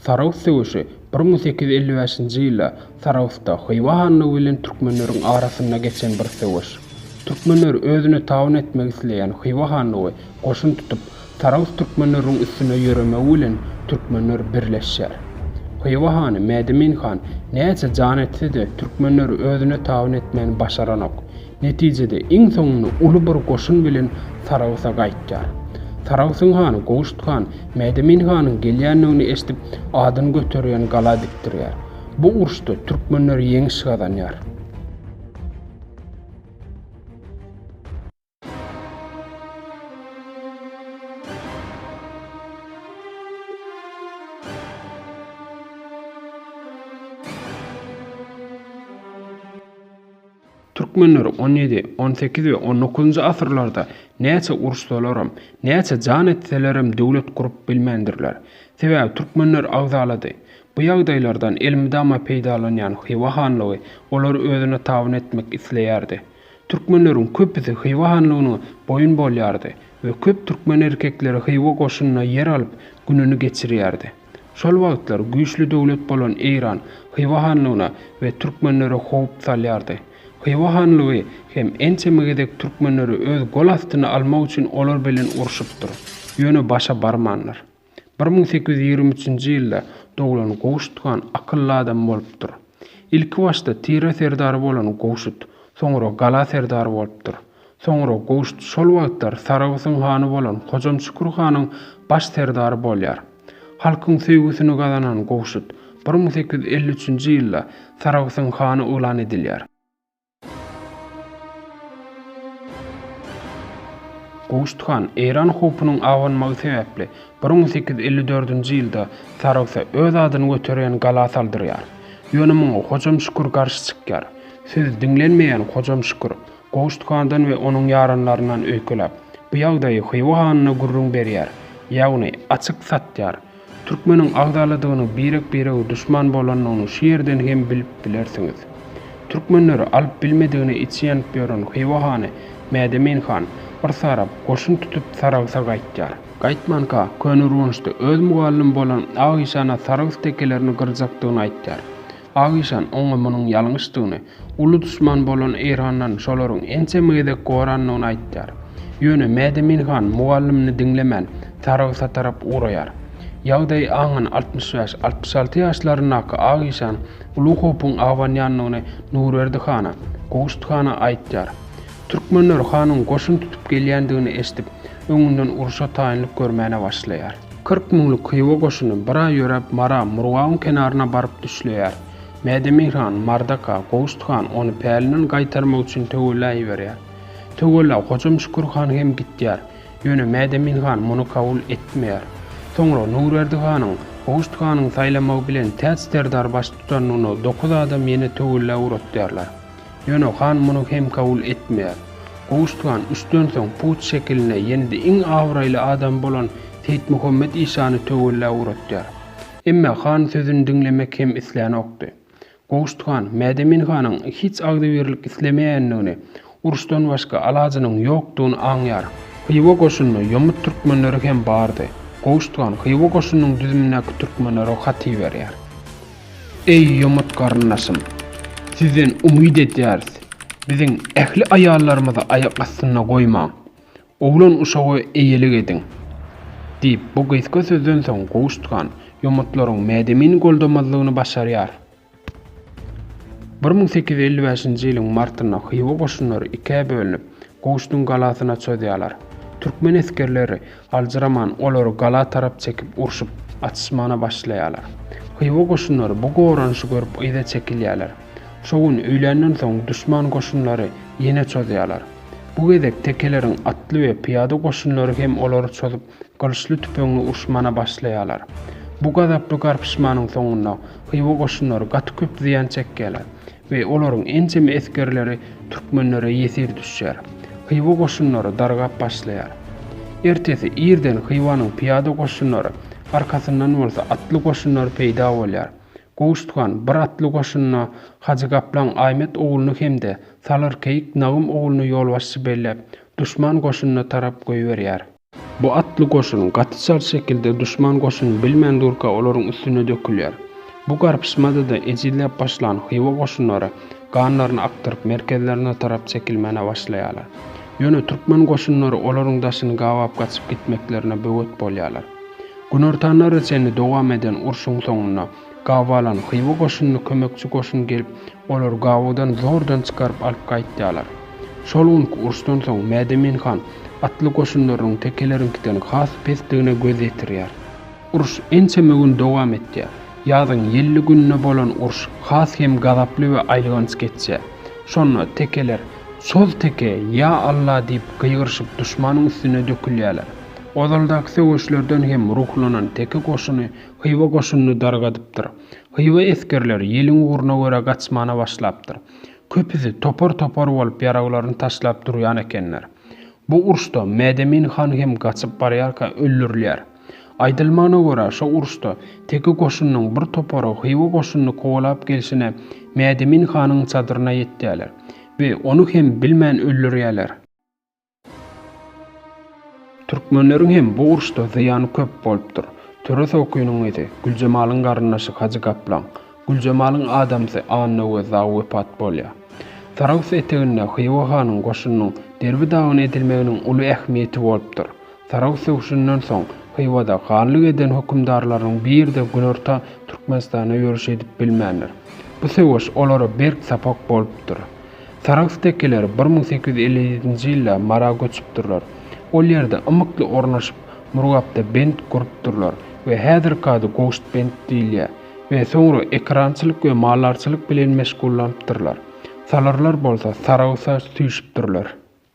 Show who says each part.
Speaker 1: Sarahs söweşi bir müň sekiz ýüz elli bäşinji ýylda Sarahsda Hywa hanlygy bilen türkmenleriň arasynda geçen bir söweş. Türkmenler özüne tabyn etmek isleýän Hywa hanlygy goşun tutup, Sarahs türkmenleriniň üstüne ýöremegi bilen türkmenler birleşýär. Hywa hany Mädemin han näçe jan etse-de türkmenleri özüne tabyn etmäni başaranok. Netijede iň soňunda uly bir goşun bilen Saragsa gaýtýar. Saragsyň hany Gowşut han Mädemin hanyň gelýändigini eşidip, adyny göterýän gala dikdirýär. Bu uruşda türkmenler ýeňiş gazanýar. Türkmenleri on ýedi, on sekiz we on dokuzynjy asyrlarda näçe uruşsalaram, näçe jan etselerem döwlet gurup bilmändirler. Sebäbi türkmenler agzalady. Bu ýagdaýlardan elmydama peýdalanýan Hywa hanlygy olary özüne tabyn etmek isleýärdi. Türkmenleriň köpüsi Hywa hanlygyna boýun bolýardy we köp türkmen erkekleri Hywa goşunyna ýer alyp gününi geçirýärdi. Şol wagtlar güýçli döwlet bolan Eýran Hywa hanlygyna we türkmenlere howp salýardy. Hywa hanlygy hem ençeme gezek türkmenleri öz gol astyna almak üçin olar bilen urşupdyr, ýöne başa barmandyr. Bir müň sekiz ýüz ýigrimi üçünji ýylda doglan Gowşut han akylly adam bolupdyr. Ilkibaşda tire serdary bolan Gowşut, soňra gala serdary bolupdyr. Soňra Gowşut şol wagtlar Saragtyň hany bolan Hojam Şükür hanyň baş serdary bolýar. Halkyň söýgüsini gazanan Gowşut bir müň sekiz ýüz elli üçünji ýylda Saragtyň hany yglan edilýär. Gowşut han Eýran howpunyň abanmagy sebäpli bir müň sekiz ýüz elli dördünji ýylda Saragta öz adyny göterýän gala saldyrýar. Ýöne muňa Hojam Şükür garşy çykýar. Sözi diňlenmeýän Hojam Şükür Gowşutgandan we onuň ýaranlaryndan öýkeläp, bu ýagdaýy Hywa hanyna gürrüň berýär, ýagny açyk satýar. Türkmeniň agzaladygyny, birek-birege duşman bolanyny şu ýerden hem bilip bilersiňiz. Türkmenleri alyp bilmedigine içi ýanyp ýören Hywa hany Mädemin han bir sarap, goşun tutup Saragsa gaýtýar. Gaýtmanka, Köneürgençde öz mugallym bolan Agyşana saragys tekelerini gyrjakdygyny aýtýar. Pahyşan oňa munuň ýalňyşdygyny, uly duşman bolan Eýrandan şolaryň ençeme gezek gorandygyny aýtýar. Ýöne Mädemin han mugallymyny diňlemän, Saragsa tarap ugraýar. Ýagdaýy aňan altmyş bäş, altmyş alty ýaşlaryndaky Agyşan uly howpuň abanýandygyny Nurberdi hana, Gowşut hana aýtýar. Türkmenler hanyň goşun tutup gelýändigini eşidip, öňünden urşa taýynlyk görmäne başlaýar. Kyrk müňlük Hywa goşuny bir aý ýöräp Mara, Murgabyň kenaryna baryp düşleýär. Mädemir han, Mardaka, Gowşut han ony pälinden gaýtarmak üçin Töwella iberýär. Töwella Hojam Şükür han hem gitýär. Ýöne Mädemin han muny kabul etmeýär. Soňra Nurberdi hanyň Gowşut hanyň saýlamagy bilen täç serdar baştutanlygyna dokuz adam ýene Töwella ugratýarlar. Ýöne han muny hem kabul etmeýär. Gowuştugan üçden soň put şekiline ýene-de iň abraýly adam bolan Seýitmuhammet işany töwella uratýar. Emma han sözüni diňlemek hem islänokdy. Gowuştugan Mädemin hanyň hiç agzybirlik islemeýändigini, uruşdan başga alajynyň ýokdugyny aňýar. Hywa goşunynda ýomut türkmenleri hem bardy. Gowuştugan Hywa goşunynyň düzümindäki türkmenlere hat iberýär. Eý ýomut garyndaşym! Sizden umyt edýäris. Biziň ähli aýallarymyzy aýak astynda goýmaň. Oglan-uşaga eýelik ediň. Diýip, bu gysga sözden soň Gowşutgan ýomutlaryň mädemini goldamazlygyny başarýar. Bir müň sekiz ýüz elli bäşinji ýylyň martynda hywa goşunlary ikä bölünip, Gowşutyň galasyna çozýarlar. Türkmen esgerleri Aljyraman olary gala tarap çekip urşup, atyşmana başlaýarlar. Hywa goşunlary bu goranyşy görüp yza çekilýärler. Şo gün öýländen soň duşman goşunlary ýene çozýarlar. Bu gezek tekeleriň atly we pyýada goşunlary hem olary çozup, gylyçly-tüpeňli urşmana başlaýarlar. Bu gazaply garpyşmanyň soňunda Hywa goşunlary gaty köp zyýan çekýärler. we olaryň ençeme esgerleri türkmenlere ýesir düşýär. Hywa goşunlary dargap başlaýar. Ertesi irden Hywanyň pyýada goşunlary, arkasyndan bolsa atly goşunlary peýda bolýar. Gowşut han bir atly goşunyna Hajy Gaplaň Aýmet ogluny hem-de Salyr keýik Nagym ogluny ýolbaşçy belläp, duşman goşunyna tarap goýberýär. Bu atly goşun gaty çalt şekilde duşman goşuny bilmän durka olaryň üstüne dökülýär. Bu garpyşmada-da ejizläp başlan Hywa goşunlary ganlaryny akdyryp merkezlerine tarap çekilmäne başlaýarlar. Ýöne türkmen goşunlary olaryň daşyny gabap gaçyp gitmeklerine böwet bolýarlar. Günortanlara çenli dowam eden urşuň soňunda Gawalan Hywa goşunyna kömekçi goşun gelip, olary Gawadan zordan çykaryp alyp gaýtýarlar. Şol günki uruşdan soň Mädemin han atly goşunlarynyň tekeleriňkiden has pesdigine göz ýetirýär. Uruş ençeme gün dowam etýär. Ýazyň ýelli gününe bolan uruş has hem gazaply we aýylganç geçýär. Şonda tekeler Soz teke, ýa Alla! diýip gygyryşyp duşmanyň üstüne dökülýärler. Ozaldaky söweşlerden hem ruhlanan teke goşuny Hywa goşunyny dargadypdyr. Hywa esgerleri ýeliň ugruna görä gaçmana başlapdyr. Köpüsi topar-topar bolup ýaraglaryny taşlap durýan ekenler. Bu uruşda Mädemin han hem gaçyp barýarka öldürilýär. Aýdylmagyna görä, şo uruşda Teke goşunynyň bir topary Hywa goşunyny kowalap gelşine Mädemin hanyň çadyryna ýetýärler we ony hem bilmän öldürýärler. Türkmenleriň hem bu uruşda zyýany köp bolupdyr. Töre Sokynyň gyzy, Güljemalyň garyndaşy Hajy Gaplaň, Güljemalyň adamsy Annagöz dagy wepat bolýar. Sarahs eteginde Hywa hanyň goşunynyň Derbi dagyna edilmeginiň uly ähmiýeti bolupdyr. Sarahs söweşinden soň Hywada hanlyk eden hökümdarlarynyň biri-de günorta Türkmenistana ýörüş edip bilmändir. Bu söweş olara berk sapak bolupdyr. Sarahs tekeleri bir müň sekiz ýüz elli ýedinji ýylda Mara göçüpdirler. Ol ýerde ymykly ornaşyp, Murgapda bent gurupdyrlar we häzirki ady Goştbent diýilýär we soňra ekerançylyk we maldarçylyk bilen meşgullanypdyrlar. Salyrlar bolsa Sarahsa süýşüpdirler.